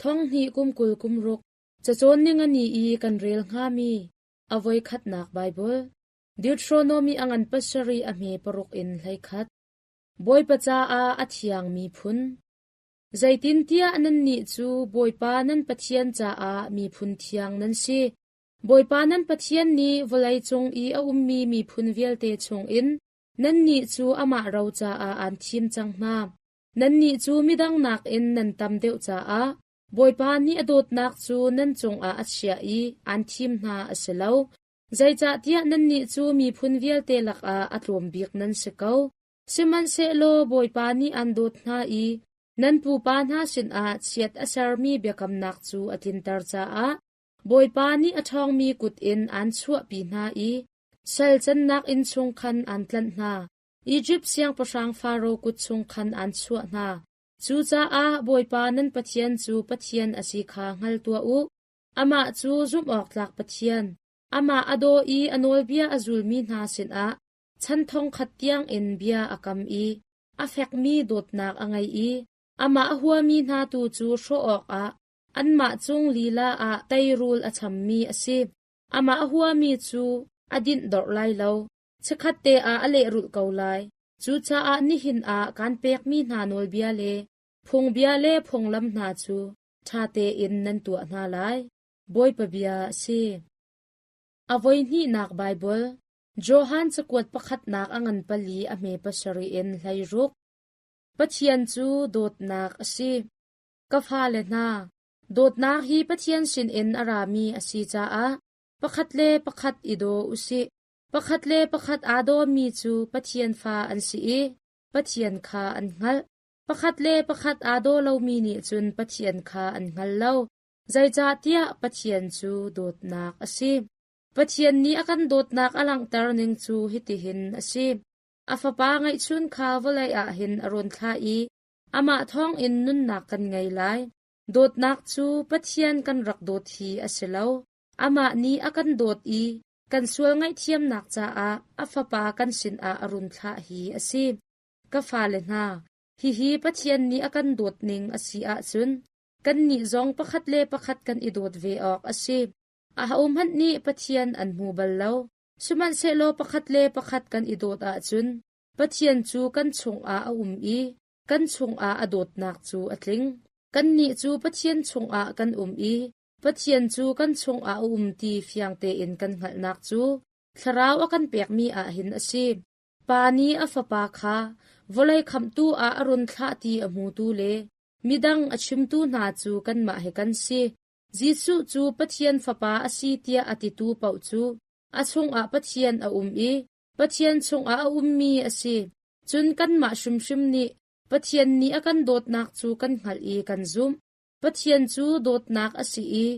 Thonghnih kum kul kum ruk cacawn ning a ni i kan rel hngami a voi khatnak Baibal, Deuteronomy a ngan pasarih a hme paruk in hlei khat, Bawipa caah a thiangmi phun, zeitintiah nannih cu Bawipa nan Pathian caah miphun thiang nan si. Bawipa nan Pathian nih vawlei cung i a ummi miphun vialte chungin nannih cu amah ro caah aan thim cang hna. Nannih cu midang nakin nan tam deuh caah Bawipa nih a dawtnak cu nan cungah a chiah i aan thim hna a si lo. Zeicahtiah nannih cu miphun vialte lakah a tlawm bik nan si ko. Sihmanhsehlaw Bawipa nih aan dawt hna i nan pupa hna sinah chiat a sermi biakamnak cu a tlinter caah Bawipa nih a ṭhawngmi kut in aan chuahpi hna i sal cannak inn chung khan aan tlanh hna. Izipt siangpahrang Faro kut chung khan aan chuah hna. Cucaah Bawipa nan Pathian cu Pathian a si kha hngal tuah u. Amah cu zumhawktlak Pathian, amah a daw i a nawlbia a zulmi hna sinah chan thongkhat tiangin bia a kam i a fekmi dawtnak a ngei i amah a huami hna tu cu hrawh awkah anmah cung lila ah teirul a chammi a si. Amah a huami cu a dinh dorh lai lo. Chikkhatte ah a lehrulh ko lai. Cucaah nihin ah kan pekmi hna nawlbia le phungbia le phunglam hna cu ṭha tein nan tuah hna lai, Bawipa bia a si. A voihnihnak Baibal, Johan cakuat pakhatnak a ngan pali a hme pasarih in hleiruk. Pathian cu dawtnak a si. Ka fale hna, dawtnak hi Pathian sinin a rami a si caah pakhat le pakhat i daw u sih. Pakhat le pakhat aa dawmi cu Pathian fa an si i Pathian kha an hngalh. Pakhat le pakhat aa daw lomi nih cun Pathian kha an hngal lo, zeicahtiah Pathian cu dawtnak a si. Pathian nih a kan dawtnak a langhter ning cu hitihin a si: A Fapa ngeihchun kha vawlei ah hin a run thlah i amah thawngin nunnak kan ngei lai. Dawtnak cu Pathian kan rak dawt hi a si lo; amah nih a kan dawt i Kan sual ngaihthiamnak caah a fapa kan sinah a run thlah hi a si. Ka fale hna, hihi Pathian nih a kan dawt ning a si ahcun kannih zong pakhat le pakhat kan i dawt ve awk a si. Ahohmanh nih Pathian an hmu bal lo. Sihmanhsehlaw pakhat le pakhat kan i dawt ahcun Pathian cu kan chungah a um i kan chungah a dawtnak cu a tling. Kannih cu Pathian chungah kan um i Pathian cu kan chungah a um ti fiang tein kan hngalhnak cu Thlarau a kan pekmi ah hin a si. Pa nih a Fapa kha vawlei khamhtu ah a run thlah ti a hmutu le midang a chimtu hna cu kanmah he kan si. Jesuh cu Pathian Fapa a si tiah a titu paoh cu a chungah Pathian a um i Pathian chungah a ummi a si. Cun kanmah hrimhrim nih Pathian nih a kan dawtnak cu kan hngalh i kan zumh. Pathian cu dawtnak a si i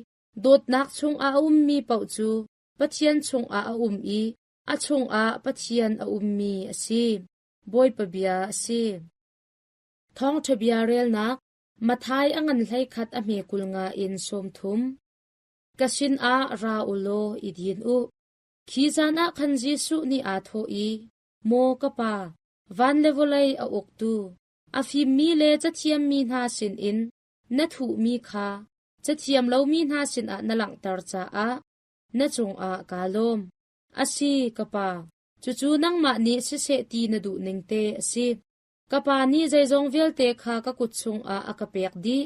dawtnak chungah a ummi paoh cu Pathian chungah a um i a chungah Pathian a ummi a si. Bawipa bia a si. Thawngṭha bia relnak Mathai a ngan hleikhat a hme kul nga in sawmthum. Ka sinah ra u law i din u. Khi zan ah khan Jesuh nih aa thawh i, Maw ka Pa, van le vawlei a uktu, A fimmi le cathiammi hna sinin na thuhmi kha cathiam lomi hna sinah na langhter caah na cungah kaa lawm. A si, ka Pa, cucu nangmah nih siseh ti na duh ning te a si. Ka Pa nih zeizong vialte kha ka kut chungah a ka pek dih.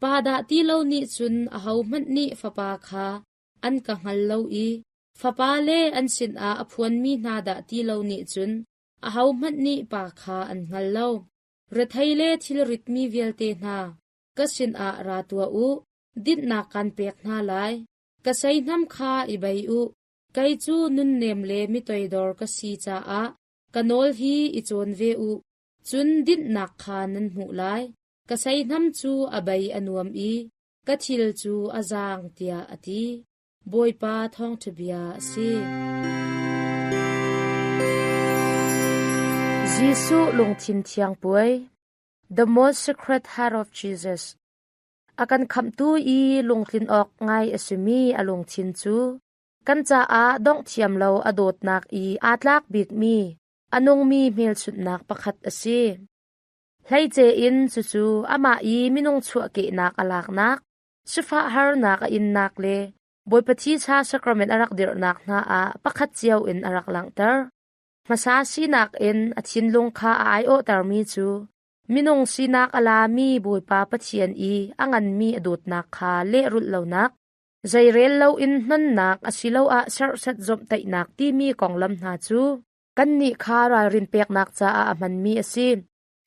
Pa dah ti lo nih cun ahohmanh nih Fapa kha an ka hngal lo i Fapa le an sinah a phuanmi hna dah ti lo nih cun Ahohmanh nih pa kha an hngal lo. Rethei le thilritmi vialte hna, ka sinah ra tuah u; dinhnak kaan pek hna lai. Ka seihnam kha i bei u; kei cu nunnem le mitoidor ka si caah ka nawl hi i cawn ve u. Cun dinhnak kha nan hmuh lai. Ka seihnam cu a bei a nuam i ka thil cu a zaang, tiah a ti. Bawipa thawngṭhabia a si. Jesuh lungthin thiang puai The Most Sacred Heart of Jesus a kan khamtu i lungtlin awk ngai a simi a lungthin cu kan caah dongh thiam lo a dawtnak i aa tlak bikmi a nungmi hmelchunhnak pakhat a si. Hleice in cucu amah i minung chuahkehnak a laknak Sifah harnak a innak le Bawipa Thisa sakramen a rak dirhnak hna ah pakhat cio in a rak langhter. Hmasa sinak in a thinlung kha a aiawhtermi cu minung sinak a lami Bawipa Pathian i a nganmi a dawtnak kha lehrulh lonak, zei rel loin nonnak asiloah serhset zomhtaihnak timi konglam hna cu kannih kha ralrin peknak caah a hmanmi a si.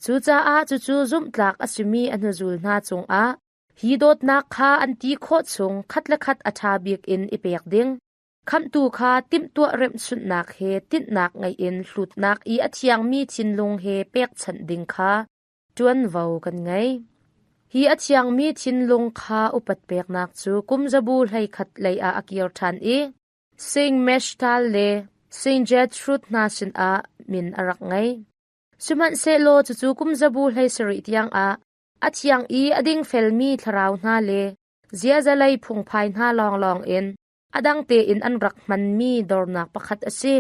Cucaah cucu zumhtlak a simi a hnuzul hna cungah hi dawtnak kha an ti khawh chung khat le khat a ṭha bik in i pek ding, Khamhtu kha timhtuah remhsunhnak he tinhnak ngei in hlutnak i a thiangmi thinlung he pekchanh ding kha ṭuanvo kan ngei. Hi a thiangmi thinlung kha upat peknak cu kumzabu hleikhat lei ah a kir ṭhan i Saint Meshtal le Saint Gertrude hna sinah min a rak ngei. Sihmanhsehlaw cucu kum zabu hlei sarih tiangah a thiang i a dingfelmi thlarau hna le ziazalei phungphai hna lawnglawng in a dang tein an rak hmanmi dornak pakhat a si.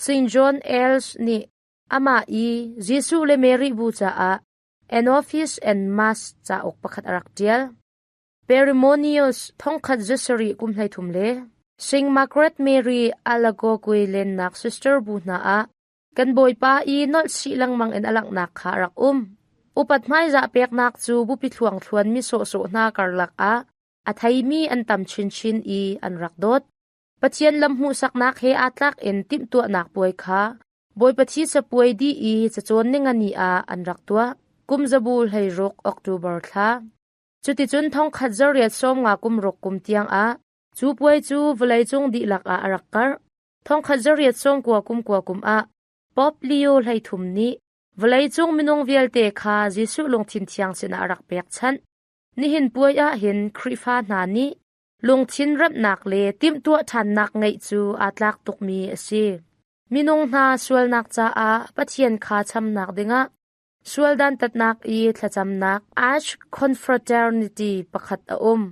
Saint John Els nih amah i Jesuh le Mary bu caah Anopheles and Mass cauk pakhat a rak ṭial. Perimoneus thongkhat za sarih kum hleithum le Saint Margaret Mary Alagogwe lennak sister bu hna ah Kan bawipa i nolh chih lengmang in a langhnak kha a rak um. Upat hmaizah peknak cu bupi thluangthluan mi sawhsawh hna karlak ah a theimi an tam chinchin i an rak dawt. Pathian lamhmuhsaknak he aa tlak in timhtuahnak puai kha Bawipa Thi capuai dih i cacawn ningani ah an rak tuah. Kum zabu hleiruk October thla. Cuticun thongkhat zarriat sawmnga kum ruk kum tiang ah cu puai cu vawleicung dihlak ah a rak karh. Thongkhat zariat sawngkua kumkua kum ah Pope Leo hleithum nih vawleicung minung vialte kha Jesuh lungthin thiang sinah a rak pekchanh. Nihin puai ah hin Khrihfa hna nih lungthin remnak le timhtuah ṭhannak ngeih cu aa tlak tukmi a si. Minung hna sualnak caah Pathian kha chamnak dingah Sual dantatnak i thlacamnak Arch Confraternity pakhat a um.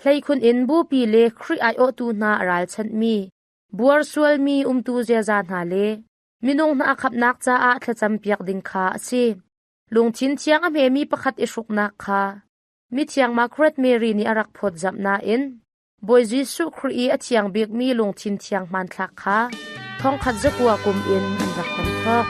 Hleikhun in bupi le Khrih aiawhtu hna a ralchanhmi, buar sualmi umtu ziaza hna le minung hna a khamnak caah thlacampiak ding kha a si. Lungthin thiang a hmemi pakhat i hruknak kha Mithiang Margaret Mary nih a rak phawtzamh nain Bawi Jesuh Khrih i a thiang bikmi lungthin thiang hmanthlak kha thongkhat zakua kum in an rak kan thawk.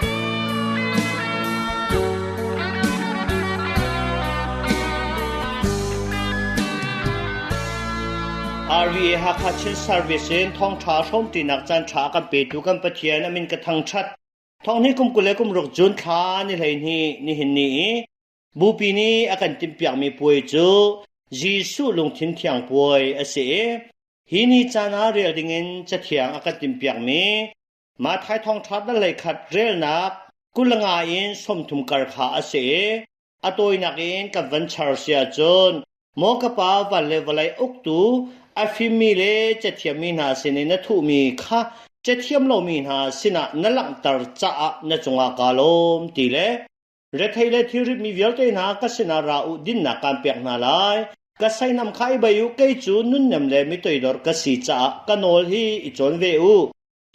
RVA Hakha Chin Service in thawngtha hrawmtinak canṭha kan petu kan Pathian amin ka thangṭhat. Thong ni kum kul le kum ruk June thla ni hlei ni nihin ni i Bupi nih a kan timhpiakmi puai cu Jesuh lungthin thiang puai a si i hi ni caan ah rel dingin Cathiang a kan timhpiakmi Mathai thawngṭha danlei khat relnak kulanga in sawmthum kar kha a si i a tawinak in kan van char si ahcun Maw ka Pa van le vawlei uktu a fimmi le cathiammi hna sin i na thuhmi kha cathiam lomi hna sinah na langhter caah na cungah kaa lawm ti le Rethei le thilrit mi vialte hna ka sinah ra u, dinnak kaan pek hna lai. Ka seinam kha i bei u, kei cu nunnem le mitoidor ka si caah ka nawl hi i cawn ve u.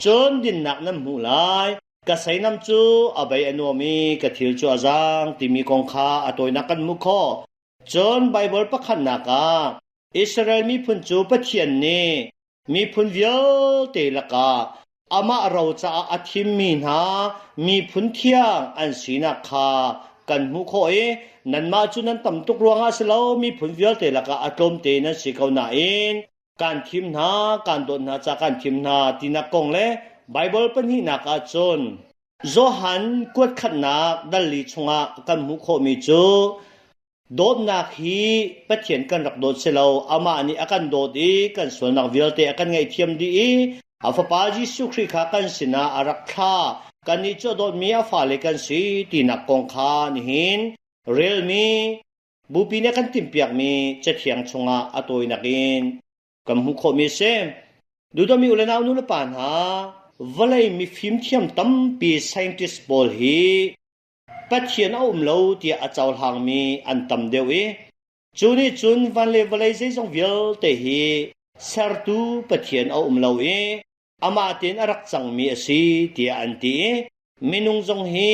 Cun dinnak nan hmuh lai, ka seinam cu a bei a nuam i ka thil cu a zaang timi kong kha a tawinak kan hmuh khawh. Cun Baibal pakhatnak ah Israel miphun cu Pathian nih Miphun vialte lakah amah ro caah a thimmi hna miphun thiang an sinak kha kan hmuh khawh i nanmah cu nan tam tuk ruangah a si lo, miphun vialte lakah a tlawmte nan si ko nain kan thim hna, kan dawt hna ca kan thim hna tinak kong le Baibal pahnihnak ah cun Johan kuatkhatnak dal li chungah kan hmuh khawhmi cu Dawtnak hi Pathian kan rak dawt si lo, amah nih a kan dawt i kan sualnak vialte a kan ngaihthiam dih i a Fapa Jesuh Khrih kha kan sinah a rak thla. Kannih cu a dawtmi a fale kan si tinak kong kha nihin relmi bupi nih kan timhpiakmi cathiang chungah a tawinak in kan hmuh khawhmi a si. Duhdomi ulenau nu le pa hna, vawlei mifim thiam tampi scientist pawl hi Pathian a um lo tiah a cohlangmi an tam deuh i cu nih cun van le vawlei zeizong vialte hi Sertu Pathian a um lo i amah tein a rak cangmi a si tiah an ti i minung zong hi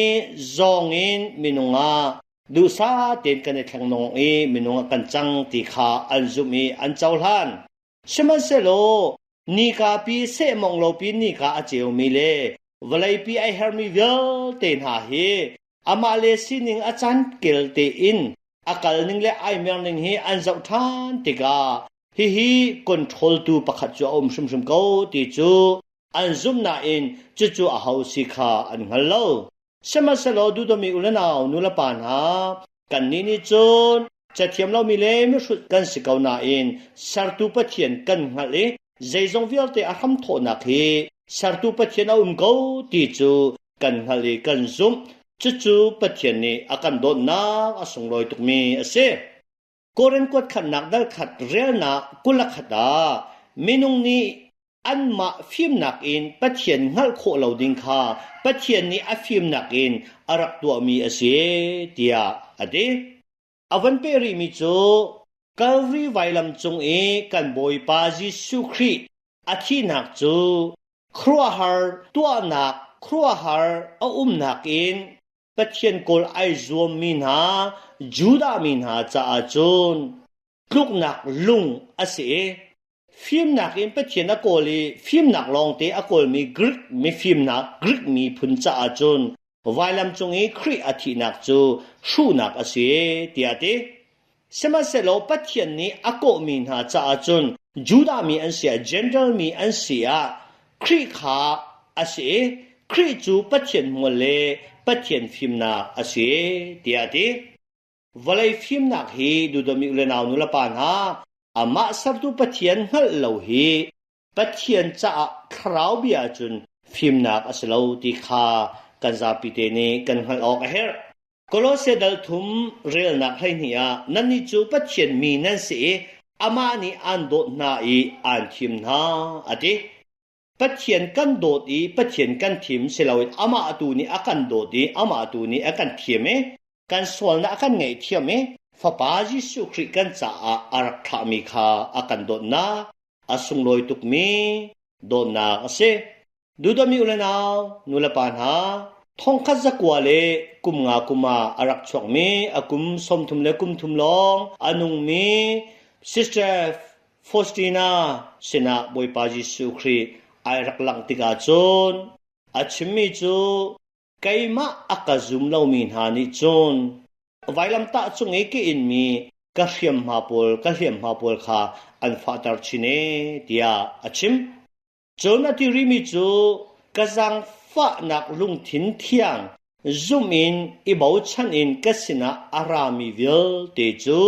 zawng in minung ah duhsah tein kan i thleng nung i minung ah kan cang ti kha an zumh i an cohlan. Sihmanhsehlaw nikapi sehmawng lopi nika a ceumi le vawleipi ai herhmi vialte hna hi amah le sining a cankel tein a kalning le ai merning hi an zoh ṭhan tikah hihi controltu pakhat cu a um hrimhrim ko ti cu an zumh nain cucu aho si kha an hngal lo. Sihmanhsehlaw duhtomi u le nau, nulepa hna, kannih nih cun cathiam lomi le mihrut kan si ko nain Sertu Pathian kan hngalh i zeizong vialte a hram thawhnak hi Sertu Pathian a um ko ti cu kan hngalh i kan zumh. Cucu Pathian nih a kan dawtnak a sunglawi tukmi a si. Koran kuatkhatnak darkhat relnak kulakhat ah minung nih anmah fimnak in Pathian hngalh khawh lo ding kha Pathian nih a fimnak in a rak tuahmi a si tiah a ti. A van peh rihmi cu Kalvari vailam cung i kan Bawipa Jesuh Khrih a thihnak cu khuaruahhar tuahnak khuaruahhar a umnak in Pathian kawl ai zuammi hna Judah mi hna caah cun tluknak lung a si i fimnak in Pathian a kawl i fimnak lawngte a kawlmi Grik mifimnak Grik miphun caah cun vailam cung i Khrih a thihnak cu hruhnak a si tiah a ti. Sihmanhsehlaw Pathian nih a kawhmi hna caah cun Judah mi an si ah Jentail mi an si ah Khrih kha a si i Khrih cu Pathian hmual le Pathian fimnak a si, tiah a ti. Vawlei fimnak hi duhdom i u le nau nulepa hna, amah sertu Pathian hngalh lo hi Pathian caah thlarau bia ahcun fimnak a si lo ti kha kan zapite nih kan hngalh awk a herh. Kolose dal thum relnak hleihnih ah nannih cu Pathian mi nan si i amah nih aan dawt hna i aan thim hna, a ti. Pathian kan dawt i Pathian kan thim si loin amah tu nih a kan dawt i amah tu nih a kan thim i kan sualnak a kan ngaihthiam i Fapa Jesuh Khrih kan caah a rak thlahmi kha a kan dawtnak A sunglawi tukmi dawtnak a si. Duhdamih le nau, nulepa hna, thongkhat zakua le kum nga kum ah a rak chuakmi a kum sawmthum le kum thum lawng a nungmi Sister Faustina sinah Bawipa Jesuh Khrih ai rak langh tikah cun a chimmi cu Keimah a ka zum lomi hna nih cun vailamtah cung i ka inmi ka hriamhma pawl ka hliamhma pawl kha an fahter chin ee tiah a chim. Cun a ti rihmi cu ka zaangfahnak lungthin thiang zumh in i bochan in ka sinah a rami vialte cu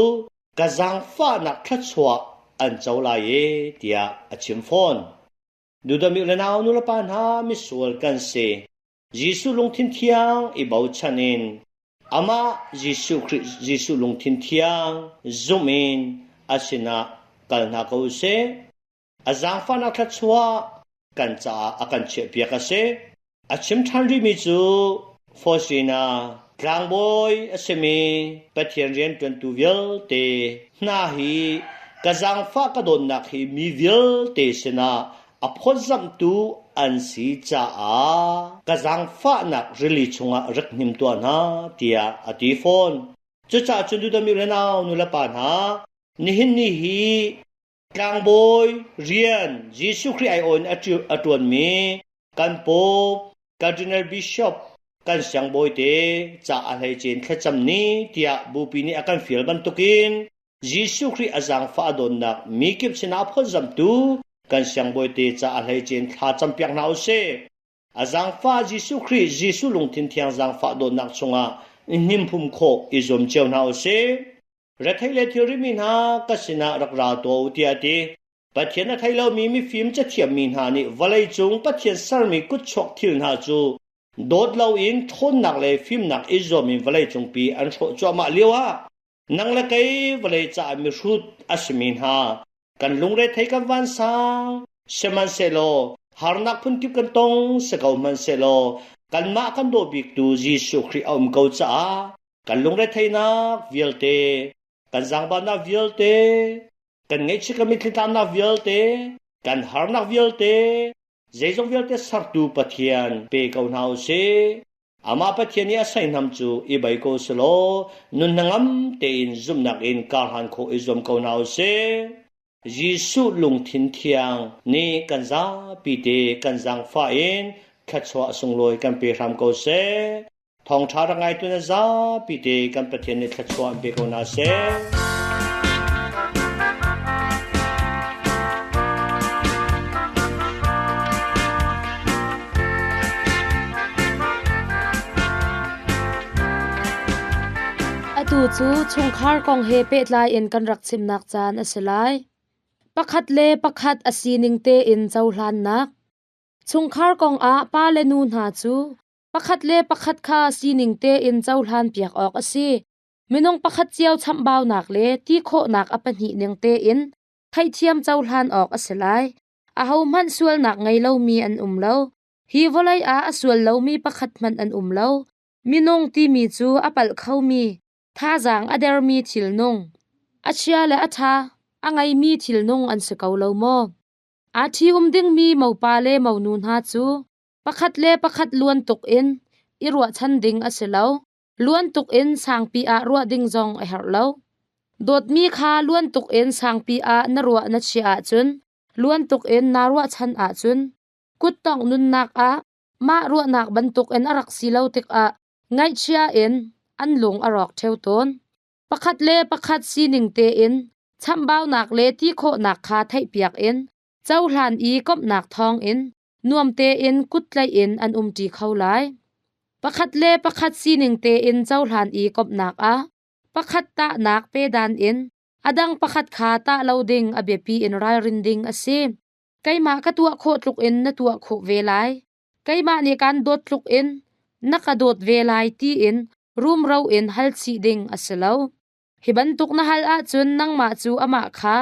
ka zaangfahnak thluachuah an co lai ee tiah a chim fawn. Judahmi le nau nulepa hna misual kan si. Jesuh lungthin thiang i bochan in amah Jesuh Khrih Jesuh lungthin thiang zumh in a sinah kal hna ko u sih. A zaangfahnak thluachuah kan caah a kan chiahpiak a si. A chim ṭhan rihmi cu Fosina tlangbawi a simi Pathian rianṭuantu vialte hna hi ka zaangfah ka dawtnak hi mi vialte sinah a phawtzamhtu an si caah ka zaangfahnak rili chungah rak hnim tuah hna, tiah a ti fawn. Cucaah cun Duda mi renau nulepa hna, nihin ni hi Tlangbawi rian Jesuh Khrih aiawh in a ṭuanmi kan Pope, Cardinal Bishop, kan siangbawite ca a hleice thlacam ni tiah bupi nih a kan fial bantukin Jesuh Khrih a zaangfah a dawtnak mikip sinah phawtzamhtu kan siangbawite ca a hleice thla cam piak hna u sih. A zaangfah Jesuh Khrih Jesuh lungthin thiang zaangfah dawtnak chungah hnimpum khawh i zuam cio hna u sih. Rethei le thilri mi hna ka sinah rak ra tuah u tiah a ti. Pathian a thei lomi mifim cathiammi hna nih vawleicung Pathian sermi kutchuak thil hna cu dawt loin ṭhawnnak le fimnak i zuam in vawleicungpi an hrawh cuahmah lioah Nang le kei vawlei caah mihrut a simi hna, kan lungrethei kan vansang, sihmanhsehlaw harnak phunkip kan tong si ko hmanhsehlaw kanmah kan daw biktu Jesuh Khrih a um ko caah kan lungretheihnak vialte, kan zaangbatnak vialte, kan ngaihchiat kan mitthli-tlanak vialte, kan harnak vialte, zeizong vialte Sertu Pathian pe ko hna u sih. Amah Pathian nih a seihnam cu i bei ko selaw nun hnangam tein zumhnak in karhlan khawh i zuam ko hna u sih. Jesuh lungthin thiang nih kan zapi te kan zaangfah in thluachuah a sunglawi kan pe hram ko seh. Thawngṭha rak ngaitu na zapi te kan Pathian nih thluachuah an pe ko hna seh. Atu cu chungkhar kong he pehtlai in kan rak chimnak caan a si lai. Pakhat le pakhat a sining tein cohlannak. Chungkhar kongah pa le nu hna cu pakhat le pakhat kha sining tein cohlan piak awk a si. Minung pakhat cio chambaunak le ti khawhnak a pahnih ning tein theihthiam cohlan awk a si lai. Ahohmanh sualnak ngei lomi an um lo. Hi vawlei ah a sual lomi pakhat hmanh an um lo. Minung timi cu a palh khomi, thazaang a dermi thilnung, a chia le a ṭha, a ngeimi thilnung an si ko lo maw? Aa ṭhium dingmi mopa le monu hna cu pakhat le pakhat luan tuk in i ruahchan ding a si lo. Luan tuk in sangpi ah ruah ding zong a herh lo. Dawtmi kha luan tuk in sangpi ah na ruah na chiah ahcun luan tuk in naa ruahchan ahcun kuttongh nunnak ah mah ruahnak bantuk in a rak si lo tikah ngaihchia in an lung a rawk ṭheo tawn. Pakhat le pakhat sining tein chambaunak le ti khawhnak kha theihpiak in Cohlan i komhnak thawngin nuam tein kut tlaih in an umṭi kho lai. Pakhat le pakhat sining tein cohlan i komhnak ah pakhat tahnak pedan in a dang pakhat kha tah lo ding a biapi in ralrin ding a si. Keimah ka tuah khawh tluk in na tuah khawh ve lai. Keimah nih kaan dawt tluk in na ka dawt ve lai tiin rumro in hal chih ding a si lo. Hi bantuk na hal ahcun nangmah cu amah kha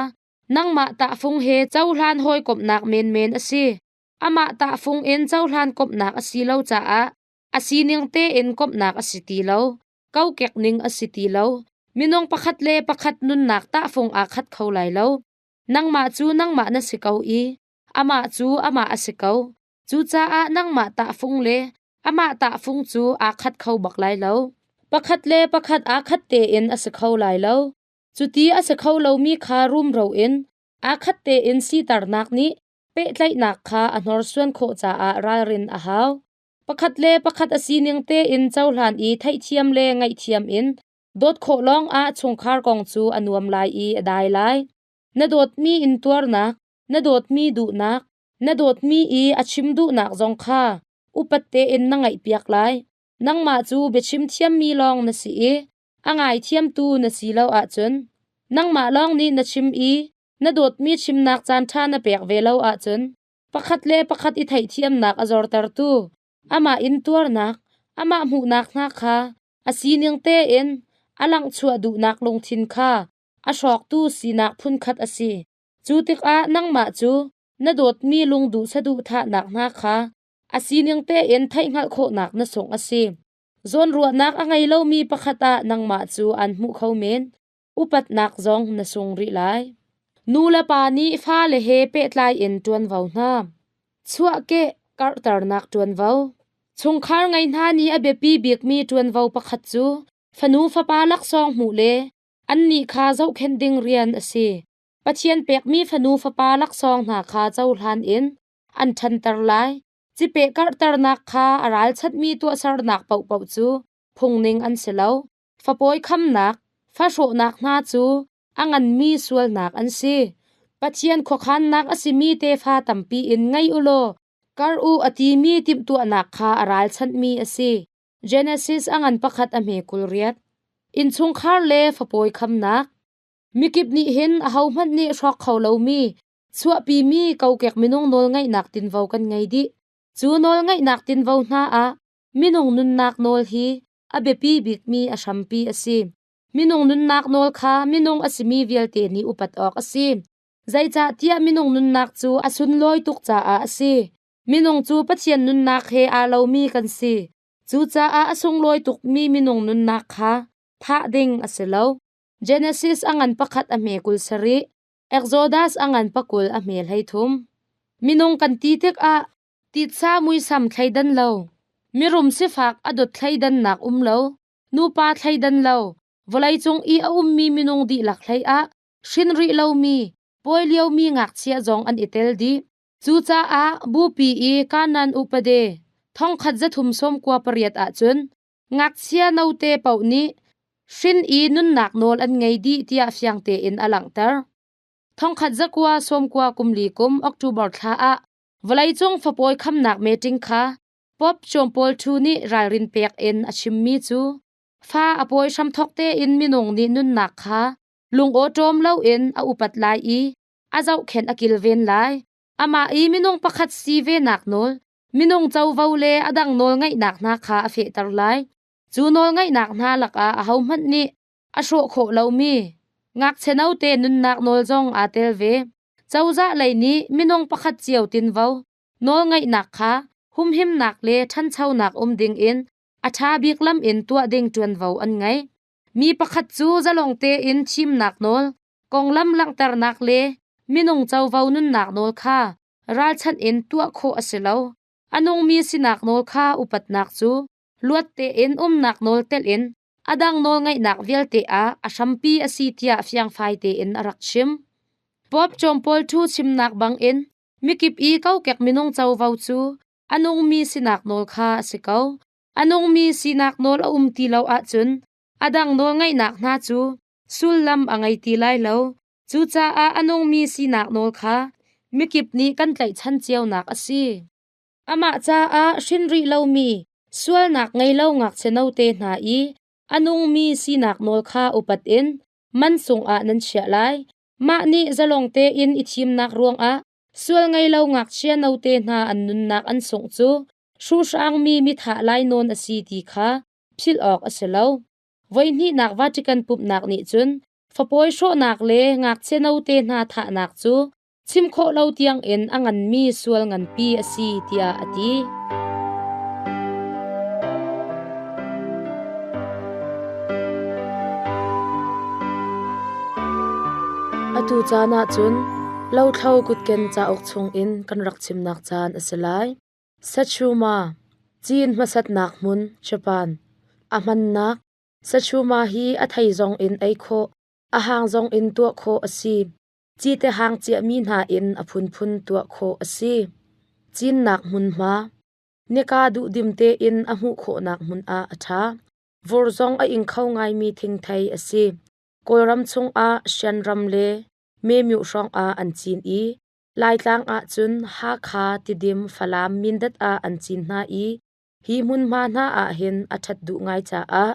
Nangmah tahfung he cohlan hawikomhnak menmen a si. Amah tahfung in cohlan komhnak a si lo caah a sining tein komhnak a si ti lo. Kokek ning a si ti lo. Minung pakhat le pakhat nunnak tahfung aa khat kho lai lo. Nangmah cu nangmah na si ko i amah cu amah a si ko. Cucaah nangmah tahfung le amah tahfung cu aa khat kho bak lai lo. Pakhat le pakhat aa khat tein a si kho lai lo. Cuti a si kho lomi kha rumro in aa khat tein siternak nih pehtlaihnak kha a hnorsuan khawh caah ralrin a hau. Pakhat le pakhat a sining tein cohlan i theihthiam le ngaihthiam in dawt khawh lawngah chungkhar kong cu a nuam lai i a dai lai. Na dawtmi intuarnak, na dawtmi duhnak, na dawtmi i a chim duhnak zong kha upat tein na ngaihpiak lai. Nangmah cu biachim thiammi lawng na si i A ngaithiamtu na si lo ahcun nangmah lawng nih na chim i na dawtmi chimnak caanṭha na pek ve lo ahcun pakhat le pakhat i theihthiamnak a zortertu, amah intuarnak, amah hmuhnak hna kha a sining tein a langchuah duhnak lungthin kha a hrawktu sinak phunkhat a si. Cu tikah nangmah cu na dawtmi lungduh saduhthahnak hna kha a sining tein theih hngalh khawhnak na sungh a si. Zawnruahnak a ngei lomi pakhat ah nangmah cu aan hmuh kho men. Upatnak zong na sung rih lai. Nu le pa nih fale he pehtlai in ṭuanvo hna. Chuahkeh karhternak ṭuanvo. Chungkhar ngei hna nih a biapi bikmi ṭuanvo pakhat cu fanu fapa laksawng hmuh le annih kha zohkhenh ding rian a si. Pathian pekmi fanu fapa laksawng hna kha cohlan in an ṭhanter lai. Cipeh karhternak kha a ralchanhmi tuahsernak paohpaoh cu phungning an si lo. Fapawi khamnak, fahrawhnak hna cu a nganmi sualnak an si. Pathian khuakhannak a simi tefa tampi in ngei u law kar u a timi timhtuahnak kha a ralchanhmi a si. Genesis a ngan pakhat a hme kul riat. Innchungkhar le fapawi khamnak. Mikip nih hin ahohmanh nih hrawk kho lomi Chuahpimi kokek minung nawlngaihnak tinvo kan ngei dih. Cu nawlngaihnak tinvo hna ah minung nunnak nawl hi a biapi bikmi a hrampi a si. Minung nunnak nawl kha minung a simi vialte nih upat awk a si. Zeicahtiah minung nunnak cu a sunlawi tuk caah a si. Minung cu Pathian nunnak he aa lomi kan si. Cucaah a sunglawi tukmi minung nunnak kha thah ding a si lo. Genesis a ngan pakhat a hme kul sarih. Exodus a ngan pakul a hme hleithum. Minung kan ti tikah titsa muisam thleidan lo, mirum sifak a dot thleidannak um lo, nupa thleidan lo, vawleicung i a ummi minung dihlak hlei ah hrin rih lomi, pawi liomi ngakchia zong an i tel dih. Cucaah bupi i kanan upade thongkhat zathum sawmkua pariat ahcun Ngakchia note paoh nih hrin i nunnak nawl an ngei dih tiah fiang tein a langhter. Thongkhat zakua sawmkua kumli kum October thla ah vawleicung fapawi khamnak meeting kha Pope John Paul II nih ralrin pek in a chimmi cu fa a pawi hramthok tein minung nih nunnak kha lungawṭawm loin a upat lai i a zohkhenh a kilven lai. Amah i minung pakhat si venak nawl Minung covo le a dang nawlngeihnak hna kha a fehter lai. Cu nawlngeihnak hna lakah ahohmanh nih a hrawh khawh lomi ngakchia note nunnak nawl zong aa tel ve. Cozah lei nih minung pakhat cio tinvo nawlngeihnak kha humhimnak le ṭhanchonak um dingin a ṭha bik lam in tuah ding ṭuanvo an ngei. Mi pakhat cu zalong tein thimnak nawl, konglam langhternak le minung covo nunnak nawl kha ralchanh in tuah khawh a si lo. A nungmi sinak nawl kha upatnak cu luat tein umnak nawl telin a dang nawlngaihnak vialte ah a hrampi a si tiah fiangfai tein a rak chim. Pope John Paul II chimnak bangin mikip i kokek minung covo cu a nungmi sinak nawl kha a si ko. A nungmi sinak nawl a um ti lo ahcun a dang nawlngaihnak hna cu sullam a ngei ti lai lo. Cucaah a nungmi sinak nawl kha mikip nih kan tlaihchan cionak a si. Amah caah hrin rih lomi sualnak ngei lo ngakchia note hna i a nungmi sinak nawl kha upat in man sungah nan chiah lai. Mah nih zalong tein i thimnak ruangah Sual ngei lo ngakchia note hna an nunnak an sungh cu hruhraangmi mithah lainawn a si ti kha philh awk a si lo. Voihnihnak Vatican pumhnak nih cun fapawi hrawhnak le ngakchia note hna thahnak cu chim khawh lo tiangin a nganmi sual nganpi a si tiah a ti. Atu caan ah cun Lothlo kutken cauk chungin kan rak chimnak caan a si lai. Sachuma, Cin hmasatnak hmun, Japan. A hmannak, Sachuma hi a thei zong in ei khawh, a hang zong in tuah khawh a si. Cite hang ciahmi hna in a phunphun tuah khawh a si. Cinnak hmunhma, nika duhdim tein a hmuh khawhnak hmun ah a ṭha. Vur zong a ing kho ngaimi thingthei a si. Kawlram chungah Shan ram le Memyu hrawngah an cin i Laitlang ahcun Hakha, Tidim, Falam, Mindat ah an cin hna i hi hmunhma hna ahhin a ṭhat duh ngai caah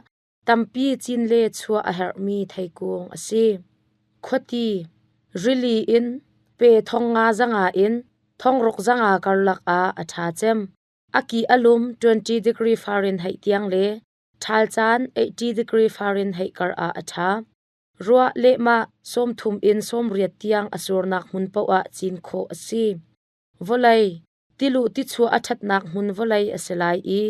tampi cin le chuah a herhmi theikung a si. Khuati, rili in, pe thong nga zanga in thongruk zanga karlak ah a ṭha cem. A ki a lum 20 degree Fahrenheit tiang le ṭhal caan 80 degree Fahrenheit kar ah a ṭha. Ruah lehmah sawmthum in sawmriat tiang a surnak hmun paoh ah cin khawh a si. Vawlei tiluh tichuah a ṭhatnak hmun vawlei a si lai i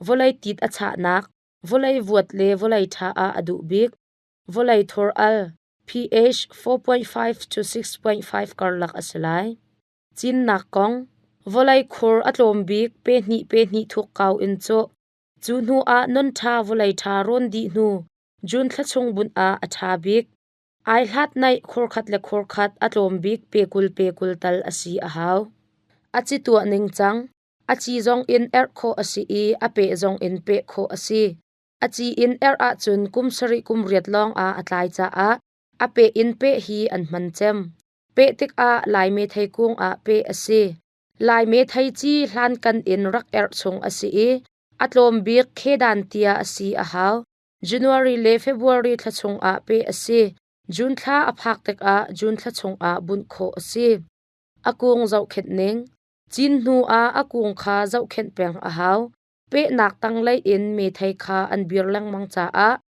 vawlei tit a chahnak, vawlei vuat le vawlei ṭha ah a duh bik. Vawlei thor al pH 4.5 cu 6.5 karlak a si lai. Cinnak kong vawlei khur a tlawm bik pe hnih pe hnih thuk kau in cawh. Cu hnuah non ṭha vawlei ṭha rawn dih hnu June thla chung bunh ah a ṭha bik. Ai hlat naih khurkhat le khurkhat a tlawm bik pekul pekul tal a si a hau. A ci tuah ning cang. A ci zong in erh khawh a si i a peh zong in peh khawh a si. A ci in erh ahcun kum sarih kum riat lawng ah a tlai caah a peh in peh hi an hman cem. Peh tikah Laimi theikung ah peh a si. Laime theici hlankan in rak erh chung a si i a tlawm bik khedan tiah a si a hau. January le February thla chungah peh a si. June thla a phak tikah June thla chungah bunh khawh a si. A kung zohkhenh ning. Cin hnu ah a kung kha zohkhenh peng a hau. Pehnak tanglei in methei kha an bir lengmang caah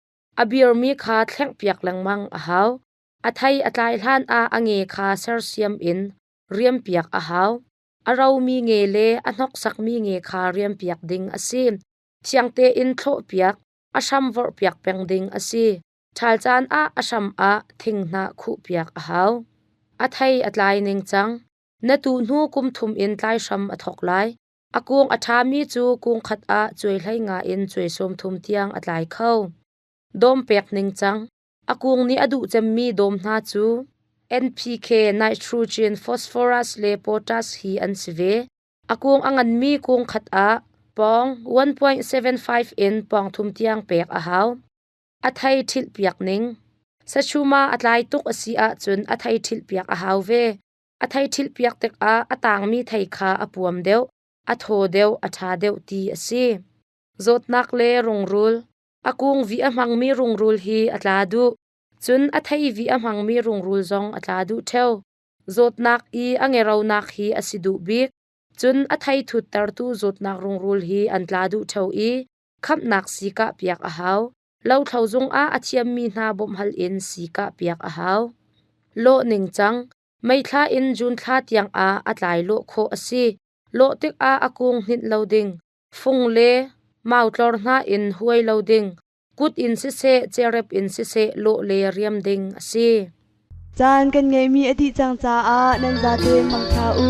a birmi kha thlengpiak lengmang a hau. A thei a tlai hlan ah a nge kha sersiam in riampiak a hau. A romi nge le a hnoksakmi nge kha riampiak ding a si. Thiang tein thlawhpiak, a hram vorhpiak peng ding a si. Ṭhal caan ah a hram ah thinghnah khuhpiak a hau. A thei a tlai ning cang. Na tu hnu kum thum in tlai hram a thawk lai. A kung a ṭhami cu kung khat ah cuai hlei nga in cuai sawm thum tiang a tlai kho. Dawm pek ning cang. A kung nih a duh cemmi dawm hna cu NPK nitrogen, phosphorus le potash hi an si ve. A kung a nganmi kung khat ah pawng 1.75 in pawng thum tiang pek a hau. A thei ṭhilhpiak ning Sachuma a tlai tuk a si ahcun a thei ṭhilhpiak a hau ve. A thei ṭhilhpiak tikah a tangmi thei kha a puam deuh, a thaw deuh, a ṭha deuh ti a si. Zawtnak le rungrul A kungvi a hmangmi rungrul hi a tla duh, cun a theivi a hmangmi rungrul zong a tla duh ṭheo. Zawtnak i a ngeronak hi a si duh bik, cun a theiṭhuttertu zawtnak rungrul hi an tla duh ṭheo i khamhnak si kah piak a hau. Lothlo zungah a thiammi hna bawmhhal in si kah piak a hau. Lawh ningcang meithla in Jun thla tiangah a tlai lawh khawh a si. Lawh tikah a kung hninh lo ding. fung le mautlor hna in huai lo ding, kut in siseh cerep in siseh lawh le riam ding a si. Caan kan ngeihmi a dih cang caah nan zate mangṭha u.